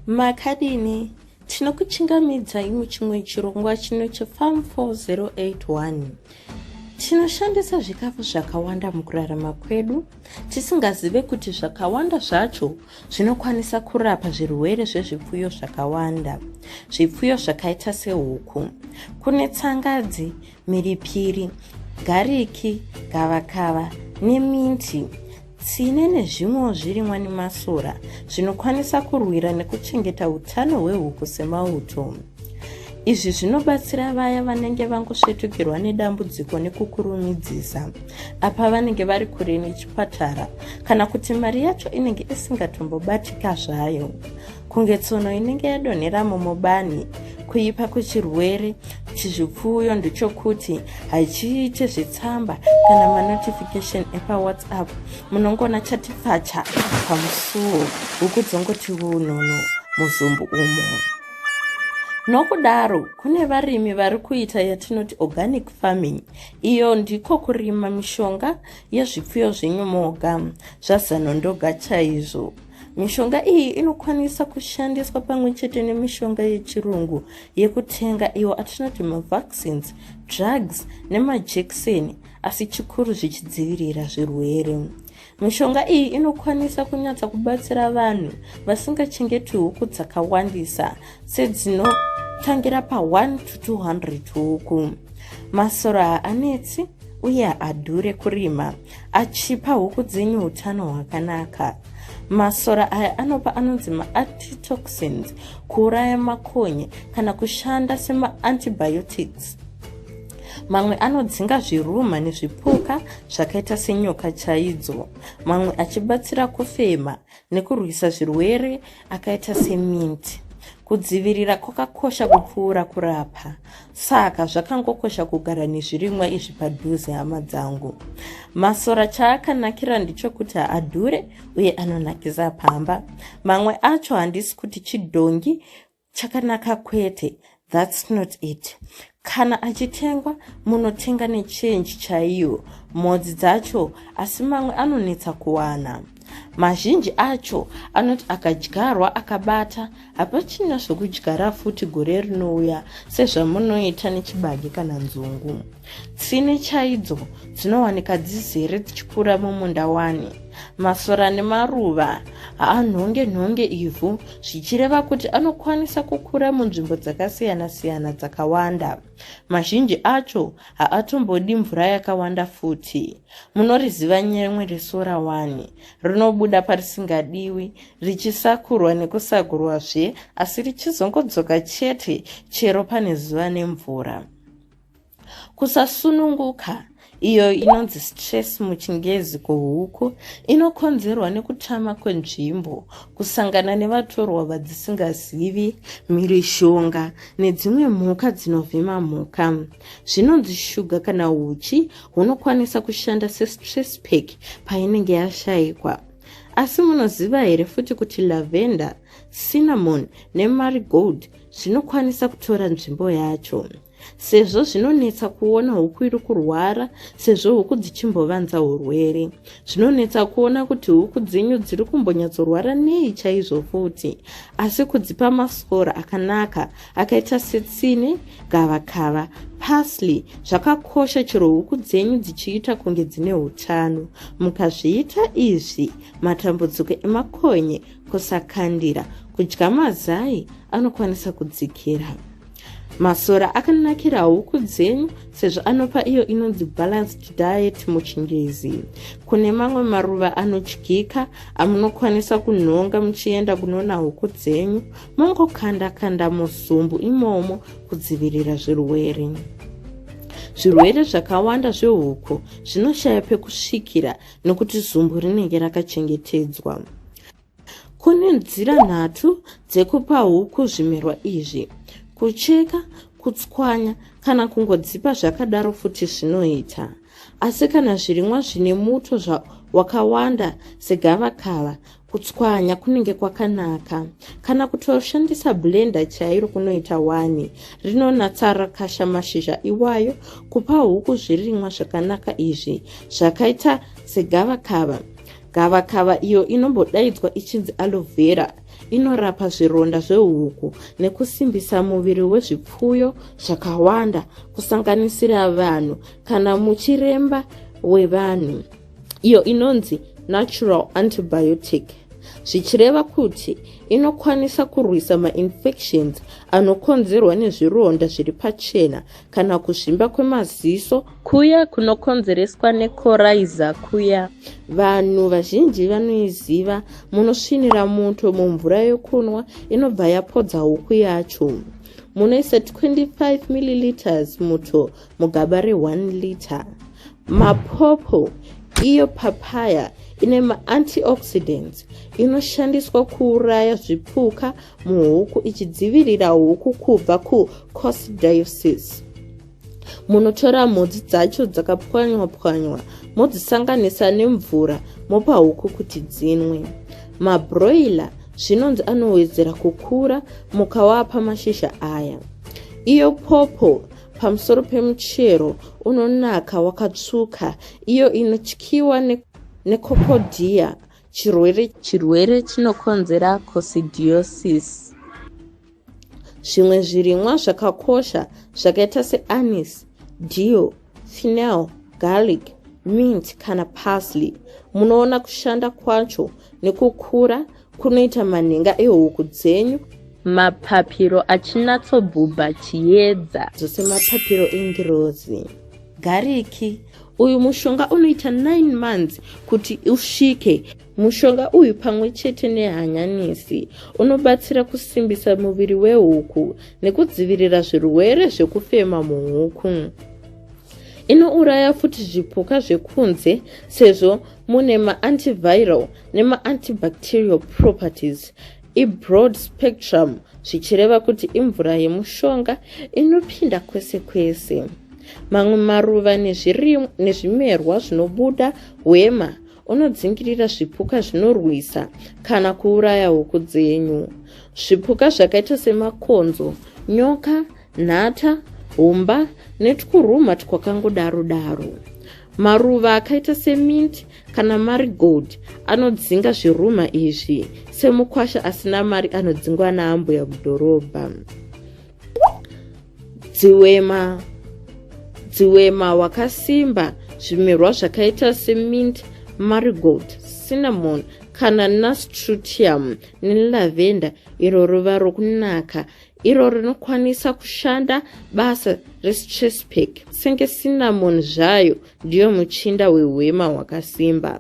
makadini tinokuchingamidzai muchimwe chirongwa chino chefarm 4081 tinoshandisa zvikafu zvakawanda mukurarama kwedu tisingazive kuti zvakawanda zvacho zvinokwanisa kurapa zvirwere zvezvipfuyo zvakawanda zvipfuyo zvakaita sehuku kune tsangadzi mhiripiri gariki gavakava neminti tsine nezvimwewo zvirimwa nemasora zvinokwanisa kurwira nekuchengeta utano hwehuku semauto izvi zvinobatsira vaya vanenge vangosvetukirwa nedambudziko nekukurumidzisa apa vanenge vari kure nechipatara kana kuti mari yacho inenge isingatombobatika zvayo kunge tsono inenge yadonhera mumubani kuipa kwechirwere chizvipfuyo ndechokuti hachiite zvetsamba kana manotification epawhatsapp munongona chati pfacha pamusuwo ukudzongoti unono muzumbu umo nokudaro kune varimi vari kuita yatinoti organic farming iyo ndiko kurima mishonga yezvipfuyo zvenyu moga zvazanondoga chaizvo Mishonga iyi inokwanisa kushandiswa pamwe chete nemishonga yechirungu yekutenga iyo atinoti mavaccines, drugs nemajekiseni asi chikuru zvichidzivirira zvirwere. Mishonga iyi inokwanisa kunyatsa kubatsira vanhu vasingachengeti huku dzakawandisa sedzinotangira pa1 to 200 huku. Masora haanetsi uye haadhure kurima. achipa huku dzenyu utano hwakanaka masora aya anopa anonzi maantitoxins kuuraya makonye kana kushanda semaantibiotics mamwe anodzinga zviruma nezvipuka zvakaita senyoka chaidzo mamwe achibatsira kufema nekurwisa zvirwere akaita seminti kudzivirira kwakakosha kupfuura kurapa saka zvakangokosha kugara nezvirimwa izvi padhuze hama dzangu masora chaakanakira ndichokuti haadhure uye anonakisa pamba mamwe acho handisi kuti chidhongi chakanaka kwete thats not it kana achitengwa munotenga nechange chaiyo mhodzi dzacho asi mamwe anonetsa kuwana mazhinji acho anoti akadyarwa akabata hapachina zvekudyara futi gore rinouya sezvamunoita nechibage kana nzungu Tsvine chaidzo dzinowanika dzizere dzichikura mumunda wani. Masora nemaruva haanhonge nhonge ivhu zvichireva kuti anokwanisa kukura munzvimbo dzakasiyana-siyana dzakawanda. Mazhinji acho haatombodi mvura yakawanda futi. Munoriziva nyemwe resora wani. Rinobuda parisingadiwi richisakurwa nekusagurwazve asi richizongodzoka chete chero pane zuva nemvura. Kusasununguka, iyo inonzi stress muchingezi kuhuku, inokonzerwa nekutama kwenzvimbo, kusangana nevatorwa vadzisingazivi, mhirizhonga nedzimwe mhuka dzinovhima mhuka. Zvinonzi shuga kana huchi hunokwanisa kushanda sestress pack painenge yashaikwa. Asi munoziva here futi kuti lavender, cinnamon nemarigold zvinokwanisa kutora nzvimbo yacho? sezvo zvinonetsa kuona huku iri kurwara sezvo huku dzichimbovanza urwere zvinonetsa kuona kuti huku dzenyu dziri kumbonyatsorwara nei chaizvo futi asi kudzipa masora akanaka akaita setsine gavakava pasly zvakakosha chero huku dzenyu dzichiita kunge dzine utano mukazviita izvi matambudziko emakonye kusakandira kudya mazai anokwanisa kudzikira Masora akanakira huku dzenyu sezvo anopa iyo inonzi balanced diet muchingezi. Kune mamwe maruva anodyika amunokwanisa kunhonga muchienda kunoona huku dzenyu mongokanda kanda muzumbu imomo kudzivirira zvirwere. Zvirwere zvakawanda zvehuku zvinoshaya pekusvikira nokuti zumbu rinenge rakachengetedzwa. Kune nzira nhatu dzekupa huku zvimerwa izvi, kucheka, kutswanya kana kungodzipa zvakadaro futi zvinoita. Asi kana zvirimwa zvine muto wakawanda segavakava, kutswanya kunenge kwakanaka. Kana kutoshandisa blender chairo kunoita wani, rinonatsa rakasha mashizha iwayo kupa huku zvirimwa zvakanaka izvi zvakaita segavakava. Gavakava iyo inombodaidzwa ichinzi aloe vera inorapa zvironda zvehuku nekusimbisa muviri wezvipfuyo zvakawanda kusanganisira vanhu kana muchiremba wevanhu iyo inonzi natural antibiotic zvichireva kuti inokwanisa kurwisa mainfections anokonzerwa nezvironda zviri pachena kana kuzvimba kwemaziso kuya kunokonzereswa nekoraiza kuya vanhu vazhinji vanoiziva munosvinira muto mumvura yokunwa inobva yapodza huku yacho munoisa 25 milliliters muto mugaba re1 liter mapopo iyo papaya ine maantioxidants inoshandiswa kuuraya zvipuka muhuku ichidzivirira huku kubva kucosdiosis munotora mhodzi dzacho dzakapwanywa pwanywa modzisanganisa nemvura mopa huku kuti dzinwe mabroiler zvinonzi anowedzera kukura mukawapa mashizha aya iyo popo pamusoro pemuchero unonaka wakatsvuka iyo inotyiwa nekokodhiya ne chirwere chirwere chinokonzera cosidiosis zvimwe zvirimwa zvakakosha zvakaita seanis dio final garlic mint kana parsley munoona kushanda kwacho nekukura kunoita manhenga ehuku dzenyu mapapiro achinatsobhubha chiedza dzose mapapiro engirozi gariki uyu mushonga unoita 9 months kuti usvike mushonga uyu pamwe chete nehanyanisi unobatsira kusimbisa muviri wehuku nekudzivirira zvirwere zvekufema muhuku inouraya futi zvipuka zvekunze sezvo mune maantiviral nemaantibacterial properties ibroad spectrum zvichireva kuti imvura yemushonga inopinda kwese kwese mamwe maruva nezvimerwa zvinobuda hwema unodzingirira zvipuka zvinorwisa kana kuuraya huku dzenyu zvipuka zvakaita semakonzo nyoka nhata humba netwuruma twakangodaro daro maruva akaita seminti kana mari gold anodzinga zviruma izvi semukwasha asina mari anodzingwa naambuya mudhorobha dziwema dziwema wakasimba zvimerwa zvakaita semint marigold cinnamon kana nastrutium nelavenda iro ruva rokunaka iro rinokwanisa kushanda basa restress pack senge cinnamon zvayo ndiyo muchinda wehwema hwakasimba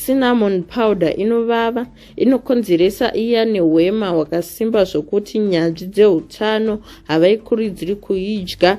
cinnamon powder inovava inokonzeresa iya nehwema hwakasimba zvokuti nyanzvi dzeutano havaikuridziri kuidya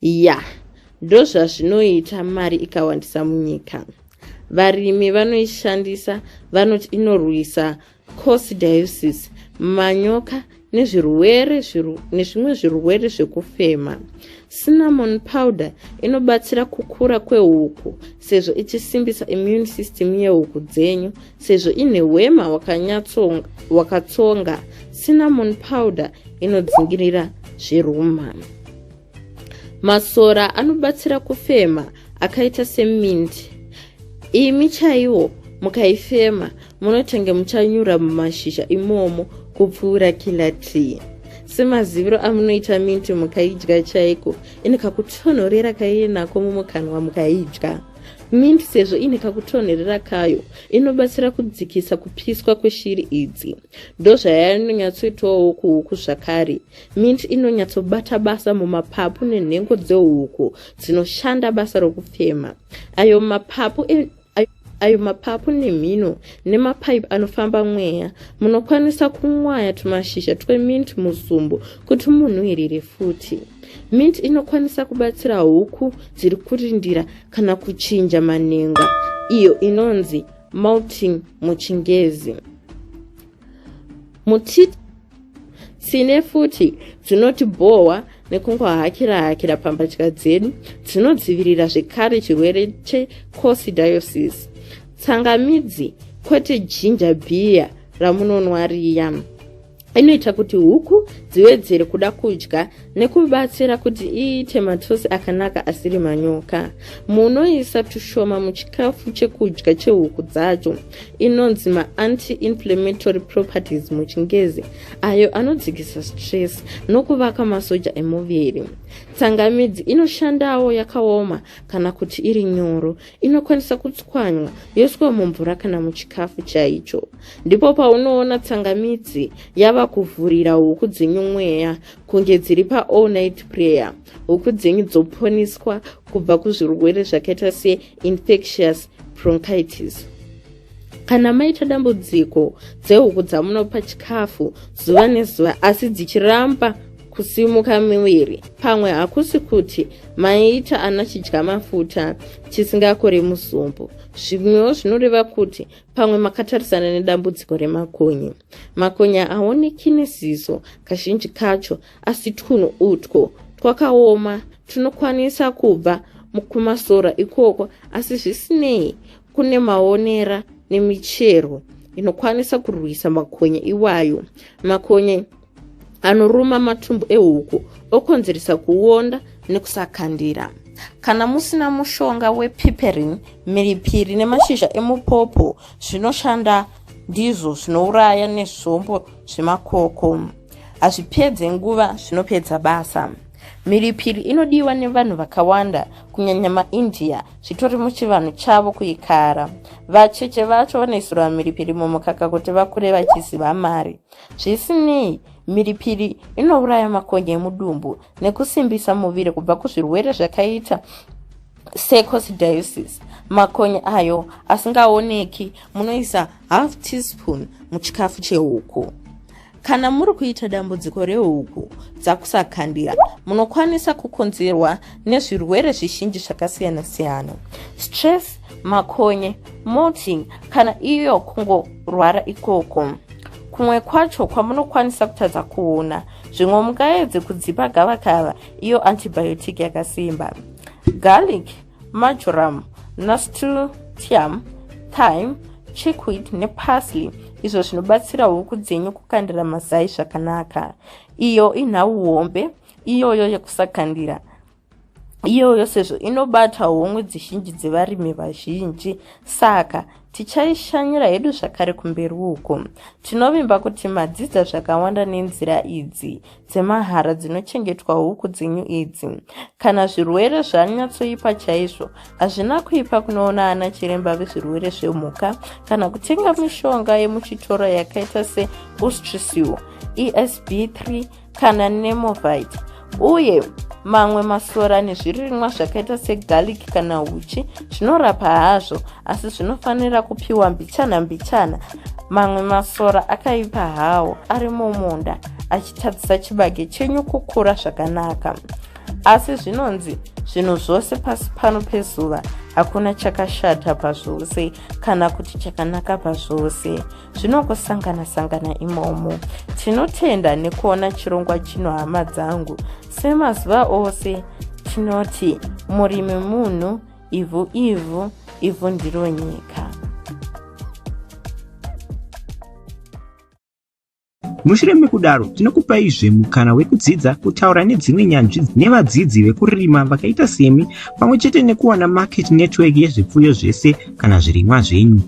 ya ndozvazvinoita mari ikawandisa munyika varimi vanoishandisa vanoti inorwisa cosidiusis manyoka nezvirwere nezvimwe zvirwere zvekufema cinnamon powder inobatsira kukura kwehuku sezvo ichisimbisa immune system yehuku dzenyu sezvo ine hwema hwakatsonga cinnamon powder inodzingirira zveruma masora anobatsira kufema akaita semint imi chaiwo mukaifema munotenge muchanyura mumashizha imomo kupfuura kila tree semaziviro amunoita minti mukaidya chaiko ini kakutonhorera kaiinako mumukanwa mukaidya Mint sezvo ine kakutonherera kayo inobatsira kudzikisa kupiswa kweshiri idzi. Ndozvayainonyatsoitawo kuhuku zvakare. Mint inonyatsobata basa mumapapu nenhengo dzehuku dzinoshanda basa rokufema. Ayo mapapu e ayo mapapu nemhino nemapaipi anofamba mweya munokwanisa kumwaya tumashizha twemint muzumbu kuti munhuhirire futi mint inokwanisa kubatsira huku dziri kurindira kana kuchinja manhenga iyo inonzi malting muchingezi muti tsine futi dzinoti bhohwa nekungohakira hakira pambatya dzedu dzinodzivirira zvekare chirwere checosidioses tsangamidzi kwete jinja bhiya ramunonwa riya inoita kuti huku dziwedzere kuda kudya nekubatsira kuti iite matosi akanaka asiri manyoka munoisa tushoma muchikafu chekudya chehuku dzacho inonzi maanti-inflammatory properties muchingezi ayo anodzikisa stress nokuvaka masoja emuviri tsangamidzi inoshandawo yakaoma kana kuti iri nyoro inokwanisa kutswanywa yoiswa mumvura kana muchikafu chaicho ndipo paunoona tsangamidzi yava kuvhurira huku dzenyu mweya kunge dziri paall night prayer huku dzenyu dzoponiswa kubva kuzvirwere zvakaita seinfectious bronchitis kana maita dambudziko dzehuku dzamunopa chikafu zuva nezuva asi dzichiramba kusimuka miviri pamwe hakusi kuti maita ana chidya mafuta chisingakore musumbu zvimwewo zvinoreva kuti pamwe makatarisana nedambudziko remakonye makonye haoneki neziso kazhinji kacho asi twunhu utwo twakaoma tunokwanisa kubva mukumasora ikoko asi zvisinei kune maonera nemichero inokwanisa kurwisa makonye iwayo makonye anoruma matumbu ehuku okonzeresa kuonda nekusakandira kana musina mushonga wepiperin miripiri nemashizha emupopo zvinoshanda ndizvo zvinouraya nezvombo zvemakoko hazvipedze nguva zvinopedza basa miripiri inodiwa nevanhu vakawanda kunyanya maindia zvitori muchivanhu chavo kuikara vacheche vacho vanoisirwa mhiripiri mumukaka kuti vakure vachiziva mari zvisinei mhiripiri inouraya makonye emudumbu nekusimbisa muviri kubva kuzvirwere zvakaita secosidiusis makonye ayo asingaoneki munoisa half teaspoon muchikafu chehuku Kana muri kuita dambudziko rehuku dzakusakandira, munokwanisa kukonzerwa nezvirwere zvizhinji zvakasiyana siyana. Stress, makonye, molting kana iyo kungorwara ikoko. Kumwe kwacho kwamunokwanisa kutadza kuona, zvimwe mungaedze kudzipa gavakava iyo antibiotic yakasimba. Garlic marjoram nasturtium thyme chickweed neparsley izvo zvinobatsira huku dzenyu kukandira mazai zvakanaka iyo inhau hombe iyoyo yekusakandira iyoyo sezvo inobata homwe dzizhinji dzevarimi vazhinji saka Tichaishanyira hedu zvakare kumberi uko. Tinovimba kuti madzidza zvakawanda nenzira idzi dzemahara dzinochengetwa huku dzenyu idzi. Kana zvirwere zvanyatsoipa chaizvo, hazvina kuipa kunoona ana chiremba vezvirwere zvemhuka kana kutenga mishonga yemuchitoro yakaita seOstrisil, ESB3 kana nemovite uye mamwe masora nezvirimwa zvakaita segarlic kana uchi zvinorapa hazvo asi zvinofanira kupiwa mbichana mbichana mamwe masora akaipa hawo ari mumunda achitadzisa chibage chenyu kukura zvakanaka asi zvinonzi zvinhu zvose pasi pano pezuva hakuna chakashata pazvose kana kuti chakanaka pazvose zvinongosangana sangana imomo tinotenda nekuona chirongwa chino hama dzangu semazuva ose tinoti murimi munhu ivhu ivhu ivhu ndiro nyika mushure mekudaro tinokupaizve mukana wekudzidza kutaura nedzimwe nyanzvi nevadzidzi vekurima vakaita semi pamwe chete nekuwana market network yezvipfuyo zvese kana zvirimwa zvenyu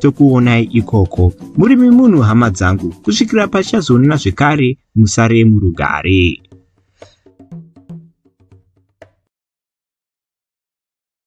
tokuonai ikoko murimi munhu hama dzangu kusvikira pachazoonana zvekare musare murugare